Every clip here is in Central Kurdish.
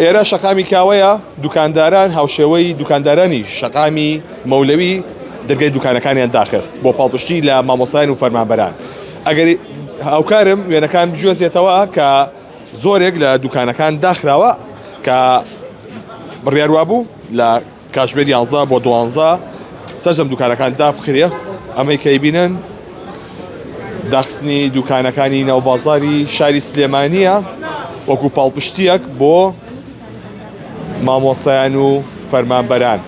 ئێرە شەقامی کاوەیە، دوکانداران هاوشێوەی دوکاندارانی شەقامی مەولەوی دەرگای دوکانەکانیان داخست بۆ پاڵپشتی لە مامۆستایان و فەرمانبەران. ئەگەر هاوکارم وێنەکان بگوێزێتەوە کە زۆرێک لە دوکانەکان داخراوە کە بڕیار وابوو لە. کاتژمێر یانزە بۆ دوانزە سەرجەم دوکانەکان دابخرێ ئەمەی کە ئەیبینن داخستنی دوکانەکانی ناو بازاری شاری سلێمانیە وەکو پاڵپشتیەک بۆ مامۆستایان و فەرمانبەران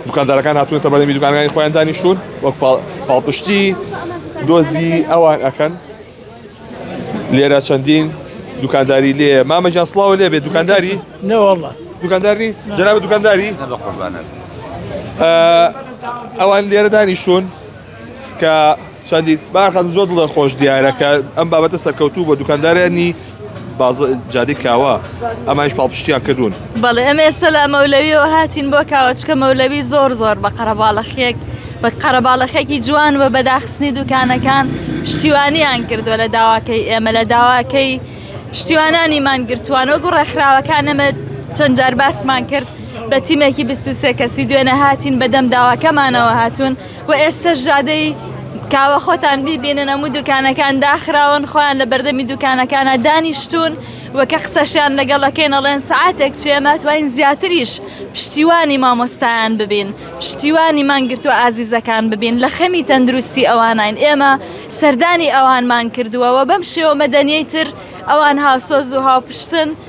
دوکاندارەکان هاتوونەتە بەرەمی دوکانەکانی خۆیان دانیشتون وەک پاڵپشتی دۆزی ئەوان ئەکەن لێرە چەندین دوکانداری لێ مامە گیان سڵاوە لێ بێت دوکانداری نەوەڵە دوکانداری جناب دوکانداری ئەوان لێرە دانیشتون کە چەندی باخەن زۆر دڵە خۆش دیارە کە ئەم بابەتە سەرکەوتوو بە دوکاندارانی باز جادی کاوە ئەمایش پاڵپشتیان کردوون بەڵێ ئەمە ئێستا لە مەولەویەوە هاتین بۆ کاوەچکە مەولەوی زۆر زۆر بە قەرەباڵەخێک بە قەرەباڵەخێکی جوان و بەداخستنی دوکانەکان شتیوانیان کردووە لە داواکەی ئێمە لە داواکەی شتیوانانی مانگرتووان وەگو ڕێکخراوەکان ئەمە چەند جار باسمان کرد بە تیمێکی 23 کەسی دوێنە هاتین بەدەم داواکەمانەوە هاتوون وە ئێستەش جادەی کاوە خۆتان بیبینن ئەموو دوکانەکان داخراون خۆیان لە بەردەمی دوکانەکانە دانیشتون وە کە قسەشیان لەگەڵەکەین ئەڵێن سعاتێک چێ ماتوانین زیاتریش پشتیوانی مامۆستایان ببین پشتیوانی مانگرتوە ئازیزەکان ببین لە خەمی تەندروستی ئەوانین ئێمە سەردانی ئەوانمان کردوە وە بەم شێوە مەدەنیەی تر ئەوان هاوسۆز و هاوپشتن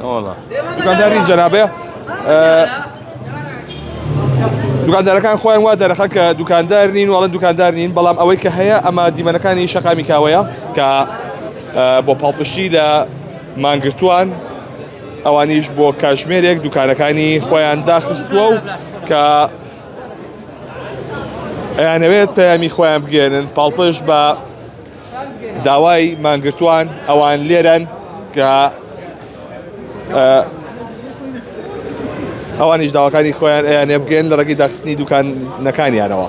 نەوەڵا دوکانداری جەنابێ دوکاندارەکان خۆیان وا دەرەخە کە دوکاندار نین وڵە دوکاندار نین بەڵام ئەوەی کە هەیە ئەمە دیمەنەکانی شەقامی کاوەیە کە بۆ پاڵپشتی لە مانگرتووان ئەوانیش بۆ کاژمێرێک دوکانەکانی خۆیان داخستووە و کە ئەیانەوێت پەیامی خۆیان بگەێنن پاڵپش بە داوای مانگرتوان ئەوان لێرەن کە ئەوانیش داواکانی خۆیان ئەیانێ بگەن لە ڕێگەی داخستنی دوکانەکانیانەوە.